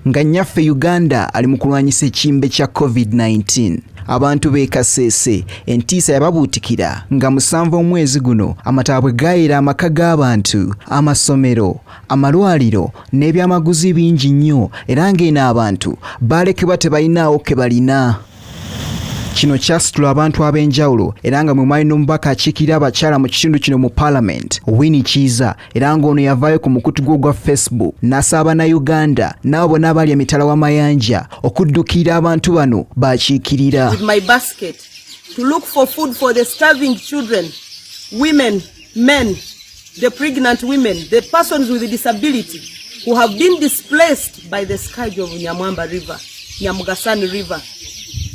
Nga nnyaffe Uganda ali mu kulwanyisa ekimbe kya COVID-19, abantu b'e Kasese entiisa yababuutikira nga musanvu omwezi guno amataba bwe gaayera amaka g'abantu, amasomero, amalwaliro n'ebyamaguzi bingi nnyo era ng'eno abantu baalekebwa tebalinaawo ke balina. Kino kyasitula abantu ab'enjawulo era nga mwe mwali n'omubaka akiikirira abakyala mu kitundu kino mu Palamenti, Winnie Kiiza era ng'ono yavaayo ku mukutu gwe ogwa facebook n'asaba bannayuganda n'abo bonna abali emitala w'amayanja okuddukirira abantu bano baakiikirira the pregnant women, the persons with disability who have been displaced by the scourge of Nyamwamba River, Nyamugasani River,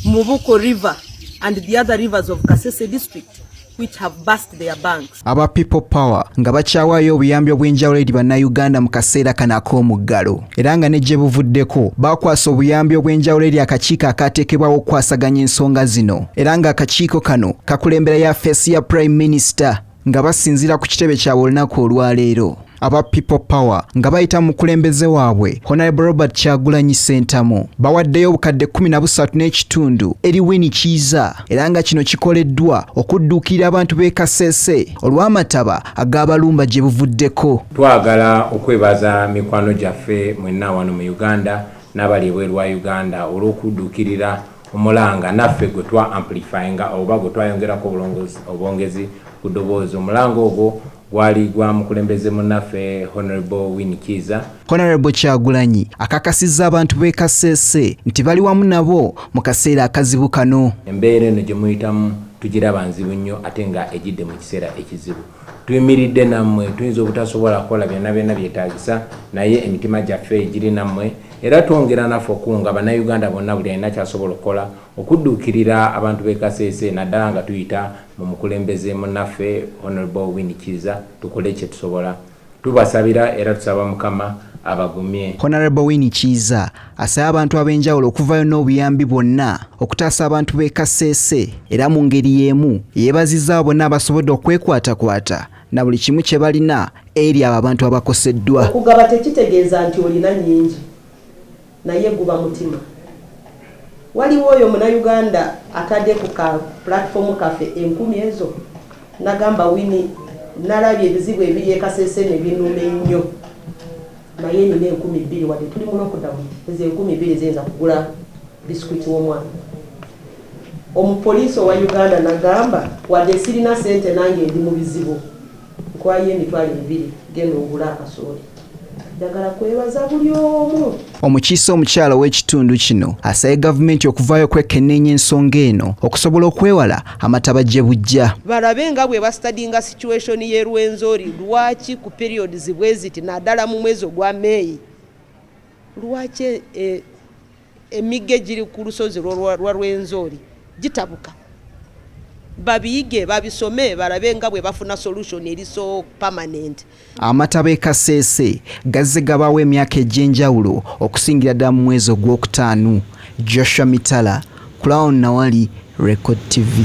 Mubuko River, and the other rivers of Kasese district. which have burst their banks. Aba People Power nga bakyawaayo obuyambi obw'enjawulo eri bannayuganda mu kaseera kano ak'omuggalo era nga ne gye buvuddeko baakwasa obuyambi obw'enjawulo eri akakiiko akaateekebwawo okukwasaganya ensonga zino era ng'akakiiko kano kakulembera ya feesi ya Prime Minister nga basinziira ku kitebe kyabwe olunaku olwaleero. aba People Power nga bayita mu mukulembeze waabwe Honorable Robert Kyagulanyi Ssentamu bawaddeyo obukadde kumi na busatu n'ekitundu eri Winnie Kiiza era nga kino kikoleddwa okudduukirira abantu b'e Kasese olw'amataba ag'abalumba gye buvuddeko. Twagala okwebaza mikwano gyaffe mwenna wano mu Uganda n'abali ebweru wa Uganda olw'okudduukirira omulanga naffe gwe twa amplifyinga oba gwe twayongerako obwongezi ku ddoboozi omulanga ogwo Gwali gwa mukulembeze munnaffe Honourable Winnie Kiiza. Honourable Kyagulanyi akakasizza abantu b'e Kasese nti bali wamu nabo mu kaseera akazibu kano. Embeera eno gye muyitamu tugiraba nzibu nnyo ate nga ejidde mu kiseera ekizibu. Tuyimiridde nammwe, tuyinza obutasobola kukola byonna byonna byetaagisa naye emitima gyaffe giri nammwe era twongera naffe okukunga Bannayuganda bonna buli alina ky'asobola okukola okudduukirira abantu b'e Kasese naddala nga tuyita Mumukulembeze munaffe Honourable Winnie Kiiza tukole kyetusobola. Tubasabira era tusaba Mukama abagumye. Honourable Winnie Kiiza asabye abantu ab'enjawulo okuvayo n'obuyambi bwonna okutaasa abantu b'e Kasese era mu ngeri y'emu yeebazizza abo bonna abasobodde okwekwatakwata na buli kimu kye balina eri abo abantu abakoseddwa. Okugaba tekitegeeza nti olina nnyingi. Naye guba mutima. Waliwo oyo muna Uganda atade ku ka platform kaffe enkumi ezo nagamba Winnie nalabye ebizibu ebiri e kasese nebinuma enyo naye nina enkumi biri wade tuli mu lockdown ezo enkumi biri ziyinza kugula biscuit womwana omu police owa Uganda nagamba wade sirina sente nange ndi mubizibu Nkuwa yo emitwalo ebiri genda ogule akasooli. Njagala kwebaza buli omu. Omukiise omukyala ow'ekitundu kino asabye gavumenti okuvaayo okwekenneenya ensonga eno okusobola okwewala amataba gye bujja. Balabe nga bwe bastadinga situation y'e Rwenzori lwaki ku periods bweziti nadala mu mwezi ogwa May lwaki e, Emigga egiri ku lusozi lwa Rwenzori gitabuka. Babiyige, babisome balabe nga bwe bafuna solution eri so permanent. Amataba e Kasese gazze gabaawo emyaka egy'enjawulo okusingira ddala mu mwezi ogwokutaanu. Joshua Mitala, Crown Nawali, Record TV.